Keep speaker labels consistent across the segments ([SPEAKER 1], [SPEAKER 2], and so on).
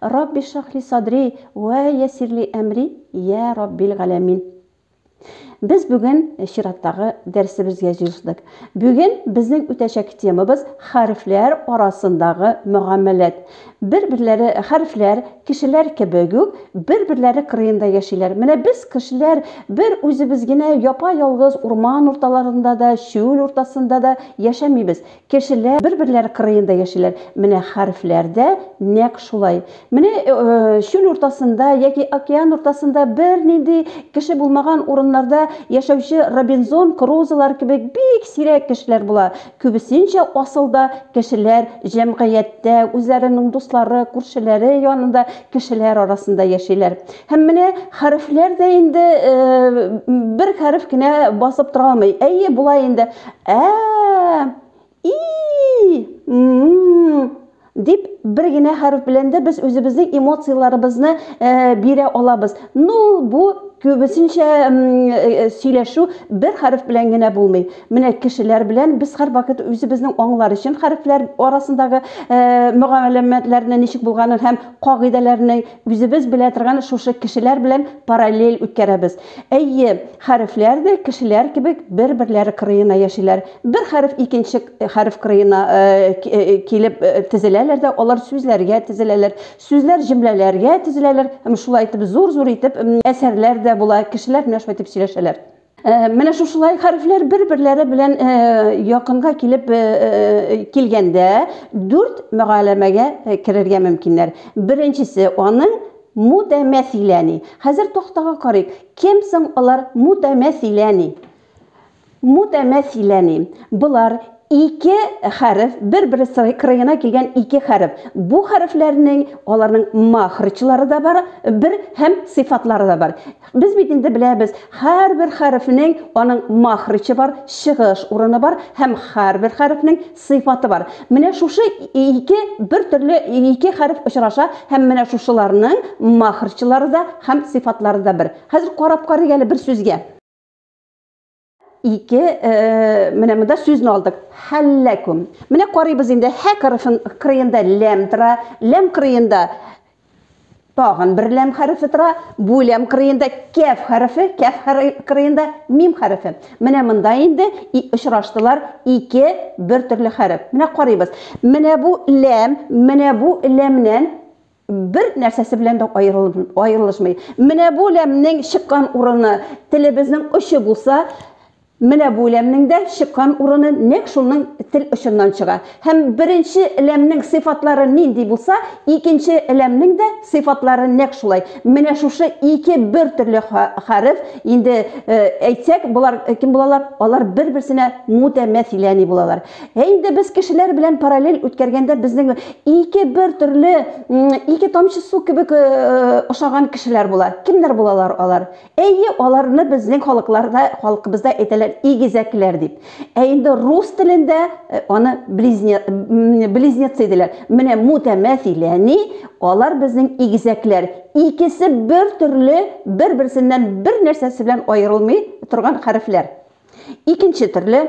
[SPEAKER 1] Рабби шрахли садри вә ясирли әмри, йә Раббил галәмин. Без бүген чираттагы дәресебезгә җыелдык. Бүген безнең үтәчәк темабыз хәрефләр арасындагы мөгамәләт. Бер-берләре хәрефләр, кешеләр кебек үк, бер-берләре кырыенда яшиләр. Менә без кешеләр бер үзебез генә япа-ялгыз урман урталарында да, чүл уртасында да яшәмибез. Кешеләр бер-берләре кырыенда яшиләр. Менә хәрефләр дә нәкъ шулай. Менә чүл уртасында яки океан уртасында бернинди кеше булмаган урыннарда яшәүче Робинзон Крузолар кебек бик сирәк кешеләр була. Күбесенчә асылда кешеләр җәмгыятьтә, үзләренең дуслары, күршеләре янында кешеләр арасында яшиләр. Һәм менә хәрефләр дә инде бер хәреф кенә басып тора алмый. Әйе, була инде. Ә, и, м, дип бер генә хәреф белән дә без үзебезнең эмоцияләребезне бирә алабыз. Ну, бу күбесенчә сөйләшү бер хәреф белән генә булмый. Менә кешеләр белән без һәрвакыт үзебезнең аңлар өчен хәрефләр арасындагы мөгаләмәтләрне ничек булганын һәм кагыйдәләрне үзебез белә торган шушы кешеләр белән параллель үткәрәбез. Әйе, хәрефләр дә кешеләр кебек бер-берләре кырыена яшиләр. Бер хәреф икенче хәреф кырыена килеп тезеләләр дә алар сүзләргә тезеләләр, сүзләр җөмләләргә тезеләләр һәм шулай итеп зур-зур итеп әсәрләр дә була, кешеләр менә шулай итеп сөйләшәләр. Менә шушылай хәрефләр бер-берләре белән якынга килеп килгәндә дүрт мөгаләмәгә керергә мөмкиннәр. Беренчесе аның мутәмәсиләни. Хәзер тактага карыйк. Кем соң алар мутәмәсиләни? Мутәмәсиләни. Болар ике хәреф, бер-бер кырыена килгән ике хәреф. Бу хәрефләрнең аларның махрычлары да бар, бер һәм сыйфатлары да бар. Без бит инде беләбез, һәрбер хәрефнең аның махричы бар, чыгыш урыны бар һәм һәрбер хәрефнең сыйфаты бар. Менә шушы ике бер төрле ике хәреф очраша һәм менә шушыларның махрчылары да һәм сыйфатлары да бер. Хәзер карап карыйк әле бер сүзгә. ике э, менә монда сүзне алдык хәлләкүм менә карыйбыз инде хә хәрефен кырыенда ләм тора ләм кырыенда тагын бер ләм хәрефе тора бу ләм кырыенда кәф хәрефе кәф кырыенда мим хәрефе менә монда инде очраштылар ике бер төрле хәреф менә карыйбыз менә бу ләм менә бу ләмнән бер нәрсәсе белән дә аерылышмый. Менә бу ләмнең чыккан урыны телебезнең очы булса, менә бу ләмнең дә чыккан урыны нәкъ шуның тел очыннан чыга. Һәм беренче ләмнең сыйфатлары нинди булса, икенче ләмнең дә сыйфатлары нәкъ шулай. Менә шушы ике бер төрле хәреф, инде әйтсәк, болар кем булалар? Алар бер-берсенә мутәмәсиләни булалар. Ә инде без кешеләр белән параллель үткәргәндә безнең ике бер төрле ике тамчы су кебек ошаган кешеләр була. Кемнәр булалар алар? Әйе, аларны безнең халыкларда, халкыбызда әйтәләр игезәкләр дип. Ә инде рус телендә аны близне, близнецы диләр. Менә мутәмәсиләни, алар безнең игезәкләр. Икесе бер төрле, бер-берсеннән бер нәрсәсе белән аерылмый торган хәрефләр. Икенче төрле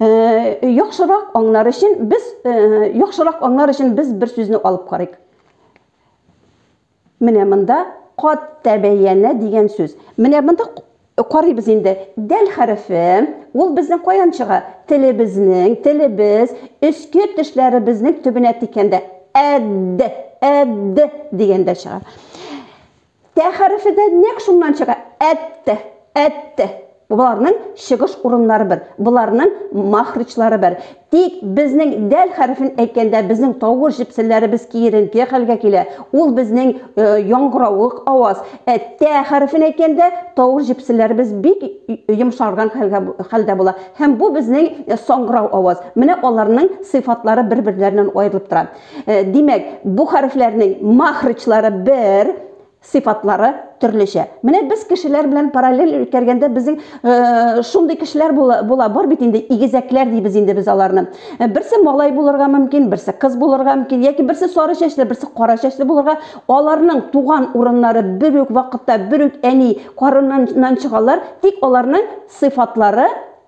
[SPEAKER 1] Э, яхшырак аңлар өчен без э, яхшырак аңлар өчен без бер сүзне алып карыйк. Менә монда кат тәбәяна дигән сүз. Менә монда карыйбыз инде. Дәл хәрефе, ул безнең каян чыга? Телебезнең, телебез, өске тешләребезнең төбенә тикәндә әд, әд дигәндә чыга. Тә хәрефе дә нәкъ шуннан чыга. Әттә, әттә. Боларның чыгыш урыннары бер, боларның махричлары бер. Тик безнең дәл хәрефен әйткәндә безнең тавыш җепселләребез киеренке хәлгә килә. Ул безнең яңгыравык аваз. Ә тә хәрефен әйткәндә тавыш җепселләребез бик йомшарган хәлгә хәлдә була. Һәм бу безнең саңгырау аваз. Менә аларның сыйфатлары бер-берләреннән аерылып тора. Э, димәк, бу хәрефләрнең махрычлары бер, сыйфатлары төрлечә. Менә без кешеләр белән параллель үткәргәндә безнең э, шундый кешеләр була, була бар бит инде игезәкләр дибез инде без аларны. Э, берсе малай булырга мөмкин, берсе кыз булырга мөмкин, яки берсе сары чәчле, берсе кара чәчле булырга. Аларның туган урыннары бер үк вакытта, бер үк әни карыннан чыгалар, тик аларның сыйфатлары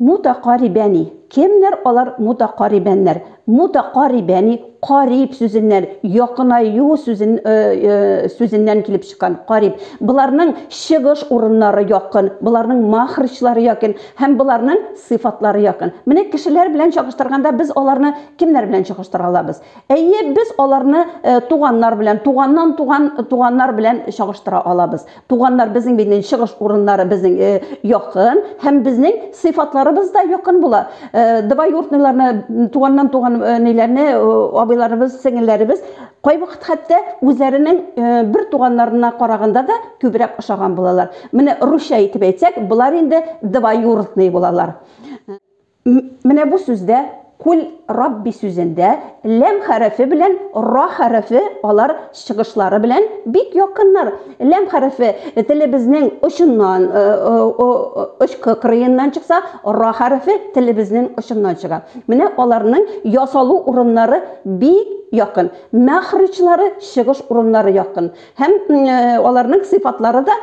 [SPEAKER 1] Мутакарибәни, кемнәр алар мутакарибәннәр? Мутакарибәни, кариб сүзеннән, якынаю сүзен, сүзеннән килеп чыккан, кариб. Боларның чыгыш урыннары якын, боларның махрҗлары якын һәм боларның сыйфатлары якын. Менә кешеләр белән чагыштырганда без аларны кемнәр белән чагыштыра алабыз? Әйе, без аларны туганнар белән, туганнан туган туганнар белән чагыштыра алабыз. Туганнар безнең бинен чыгыш урыннары безнең э, якын һәм безнең сыйфатларыбыз да якын була. Э, Двоюродныйларны, туганнан туган э, ниләрне, абыйларыбыз, сеңелләребез кайвакыт хәтта үзләренең бер туганнарына караганда да күбрәк ошаган булалар. Менә русча әйтеп әйтсәк, болар инде двоюродный булалар. Менә бу сүздә Куль Рабби сүзендә ләм хәрефе белән ра хәрефе алар чыгышлары белән бик якыннар. Ләм хәрефе телебезнең очыннан, очкы кырыеннан чыкса, ра хәрефе телебезнең очыннан чыга. Менә аларның ясалу урыннары бик якын. Мәхричлары чыгыш урыннары якын. Һәм аларның сыйфатлары да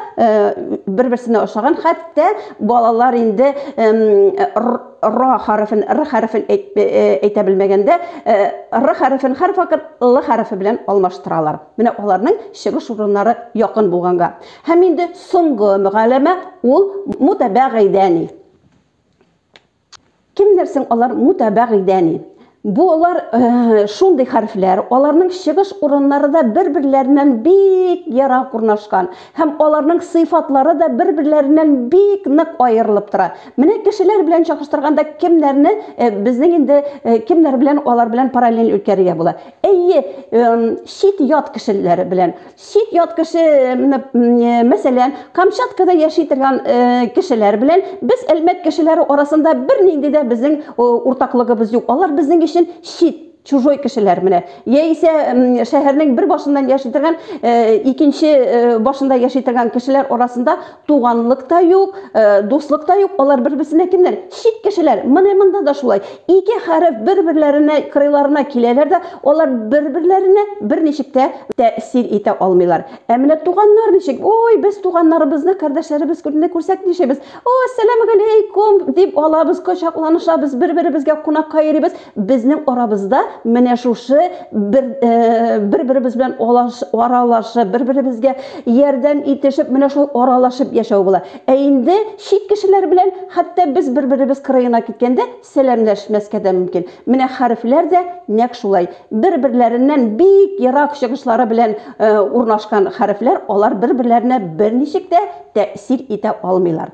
[SPEAKER 1] бер-берсенә ошаган. Хәтта балалар инде ра хәрефен, р хәрефен әйтә белмәгәндә, р хәрефен хәреф вакыт л хәрефе белән алмаштыралар. Менә аларның чыгыш урыннары якын булганга. Һәм инде соңгы мөгаләмә ул мутабәгыйдәни. Кемнәр соң алар мутабәгыйдәни? Бу алар шундый хәрефләр, аларның чыгыш урыннары да бер-берләреннән бик ерак урнашкан һәм аларның сыйфатлары да бер-берләреннән бик нык аерылып тора. Менә кешеләр белән чагыштырганда кемнәрне безнең инде кемнәр белән алар белән параллель үткәрергә була? Әйе, чит ят кешеләр белән. чит ят кеше, мәсәлән, Камчаткада яши торган кешеләр белән без Әлмәт кешеләре арасында бернинди дә безнең уртаклыгыбыз юк. Алар безнең өчен чит, чужой кешеләр менә. Яисә шәһәрнең бер башыннан яши торган, икенче башында яши торган кешеләр арасында Туганлык та юк, э, дуслык та юк, алар бер-берсенә кемнәр? Чит кешеләр. Менә монда да шулай. Ике хәреф бер-берләренә кырыйларына киләләр дә, алар бер-берләренә берничек тә тәэсир итә алмыйлар. Ә менә туганнар ничек? Ой, без туганнарыбызны, кардәшләребез күрдә күрсәк нишебез? О, сәлам галәйкум дип алабыз, кочакланышабыз, бер-беребезгә кунакка йөрибез. Безнең арабызда менә шушы бер, бер-беребез белән аралашып, бер-беребезгә ярдәм итешеп, менә шулай аралашып яшәү була. Ә инде чит кешеләр белән хәтта без бер-беребез кырыена киткәндә сәламләшмәскә дә мөмкин. Менә хәрефләр дә нәкъ шулай. Бер-берләреннән бик ерак чыгышлары белән урнашкан хәрефләр, алар бер-берләренә берничек тә тәэсир итә алмыйлар.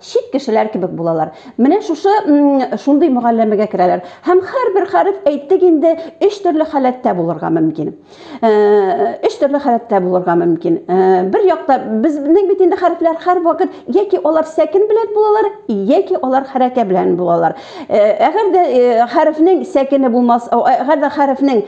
[SPEAKER 1] чит кешеләр кебек булалар. Менә шушы шундый мөгалләмәгә керәләр. Һәм һәрбер хәреф әйттек инде өч төрле халәттә булырга мөмкин. Өч төрле халәттә булырга мөмкин. Бер якта безнең бит инде хәрефләр һәрвакыт яки алар сәкен белән булалар, яки алар хәрәкә белән булалар. Әгәр дә хәрефнең сәкене булмас, әгәр дә хәрефнең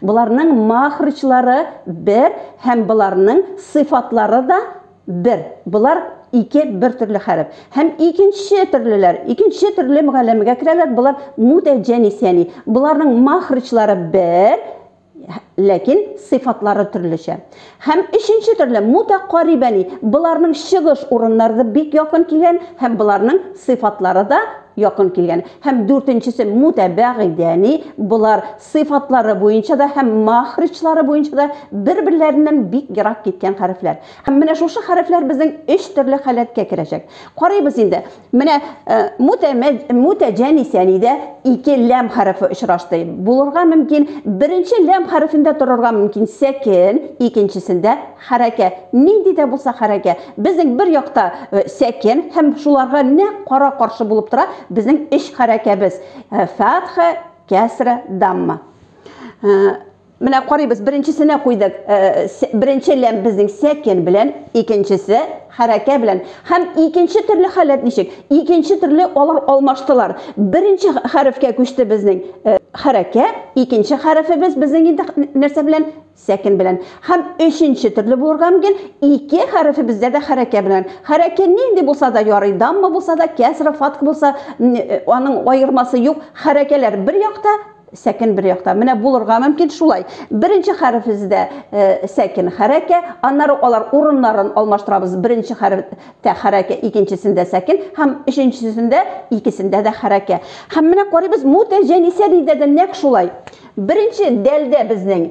[SPEAKER 1] Боларның мәхрүҗлары бер һәм боларның сыйфатлары да бер. Болар ике бер төрле хәреф. Һәм икенче төрлеләр, икенче төрле мөгалләмәгә керәләр, болар мутәҗәнис, ягъни боларның мәхрүҗлары бер, ләкин сыйфатлары төрлечә. Һәм өченче төрле, мутәкарибәни, боларның чыгыш урыннары да бик якын килгән һәм боларның сыйфатлары да якын килгән. Һәм дүртенчесе, мутәбәгыйдәни, болар сыйфатлары буенча да һәм мәхриҗлары буенча да бер-берләреннән бик ерак киткән хәрефләр. Һәм менә шушы хәрефләр безнең өч төрле халәткә керәчәк. Карыйбыз инде. Менә мутәҗәнисәнидә ике ләм хәрефе очрашты. Булырга мөмкин, беренче ләм хәрефендә торырга мөмкин сәкен, икенчесендә хәрәкә. Нинди дә булса хәрәкә. Безнең бер якта сәкен һәм шуларга нәкъ кара-каршы булып тора безнең өч хәрәкәбез, фәтха, кәсра, дамма. Менә карыйбыз, беренчесенә куйдык. Беренче ләм безнең сәкен белән, икенчесе хәрәкә белән. Һәм икенче төрле халәт ничек? Икенче төрле алар алмаштылар. Беренче хәрефкә күчте безнең хәрәкә, икенче хәрефебез безнең инде нәрсә белән? Сәкен белән. Һәм өченче төрле булырга мөмкин, ике хәрефебездә дә хәрәкә белән. Хәрәкә нинди булса да ярый, дамма булса да, кәсра, фатх булса, аның аермасы юк. Хәрәкәләр бер якта, Сәкен бер якта. Менә булырга мөмкин шулай. Беренче хәрефебездә э, сәкен хәрәкә, аннары алар урыннарын алмаштырабыз. Беренче хәрефтә хәрәкә, икенчесендә сәкен һәм өченчесендә икесендә дә хәрәкә. Һәм менә карыйбыз, мутәҗәнисә диндә дә нәкъ шулай. Беренче дәлдә безнең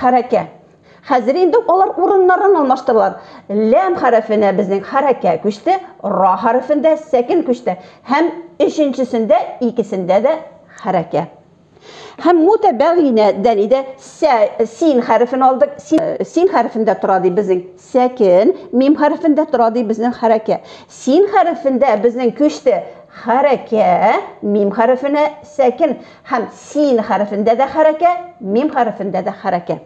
[SPEAKER 1] хәрәкә. Хәзер инде алар урыннарын алмаштыралар. Ләм хәрефенә безнең хәрәкә күчте, ра хәрефендә сәкен күчте һәм өченчесендә икесендә дә хәрәкә. Һәм мутәбәгыйнә дән иде сә, син хәрефен алдык, син, син хәрефендә тора ди безнең Сәкен, мим хәрефендә тора ди безнең хәрәкә. Син хәрефендә безнең көчте хәрәкә, мим хәрефенә сәкен. Һәм син хәрефендә дә хәрәкә, мим хәрефендә дә хәрәкә.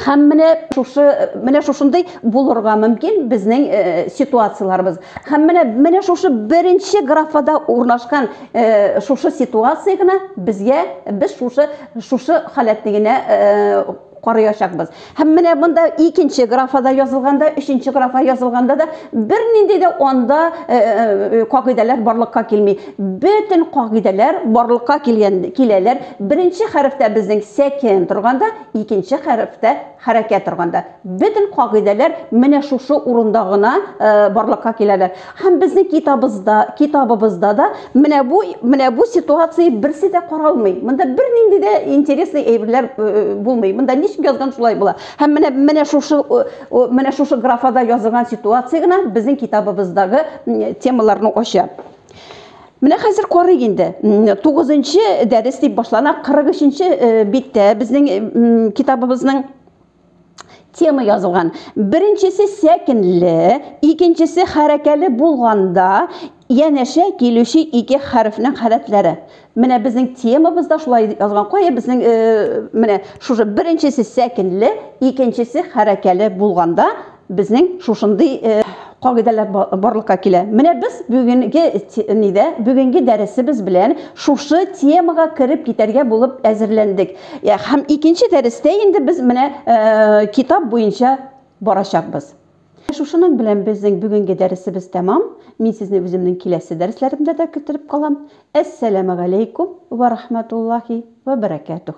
[SPEAKER 1] Һәм менә шушы, менә шушындый булырга мөмкин безнең э, ситуацияләрбез. Һәм менә менә шушы беренче графада урнашкан э, шушы ситуация гына безгә без шушы шушы халәтне генә э, карыячакбыз. Һәм менә монда икенче графада язылганда, өченче графа язылганда да бернинди дә анда э, э, кагыйдәләр барлыкка килми. Бөтен кагыйдәләр барлыкка килгән киләләр. Беренче хәрефтә безнең сәкен торганда, икенче хәрефтә хәрәкәт торганда. Бөтен кагыйдәләр менә шушы урында гына э, барлыкка киләләр. Һәм безнең китабызда, китабыбызда да менә бу менә бу ситуация берсе дә каралмый. Монда бернинди дә интересный әйберләр э, э, булмый. Монда ничек язган шулай була. Һәм менә менә шушы менә шушы графада язылган ситуация гына безнең китабыбыздагы темаларны ача. Менә хәзер карыйк инде. 9нчы дәрес дип башлана 43нче э, биттә безнең китабыбызның тема язылган. Беренчесе сәкенле, икенчесе хәрәкәле булганда янәшә килүче ике хәрефнең халәтләре. Менә безнең темабыз да шулай язган. Кая безнең э, менә шушы беренчесе сәкенле, икенчесе хәрәкәле булганда Безнең шушындый кагыйдәләр барлыкка килә. Менә без бүгенге нидә, бүгенге дәресебез белән шушы темага кереп китәргә булып әзерләндек. Һәм икенче дәрестә инде без менә китап буенча барачакбыз. Шушының белән безнең бүгенге дәресебез тәмам. Мин сезне үземнең киләсе дәресләремдә дә көтереп калам. Әссәламегаләйкүм вә рахмәтуллаһи вә бәрәкәтүһ.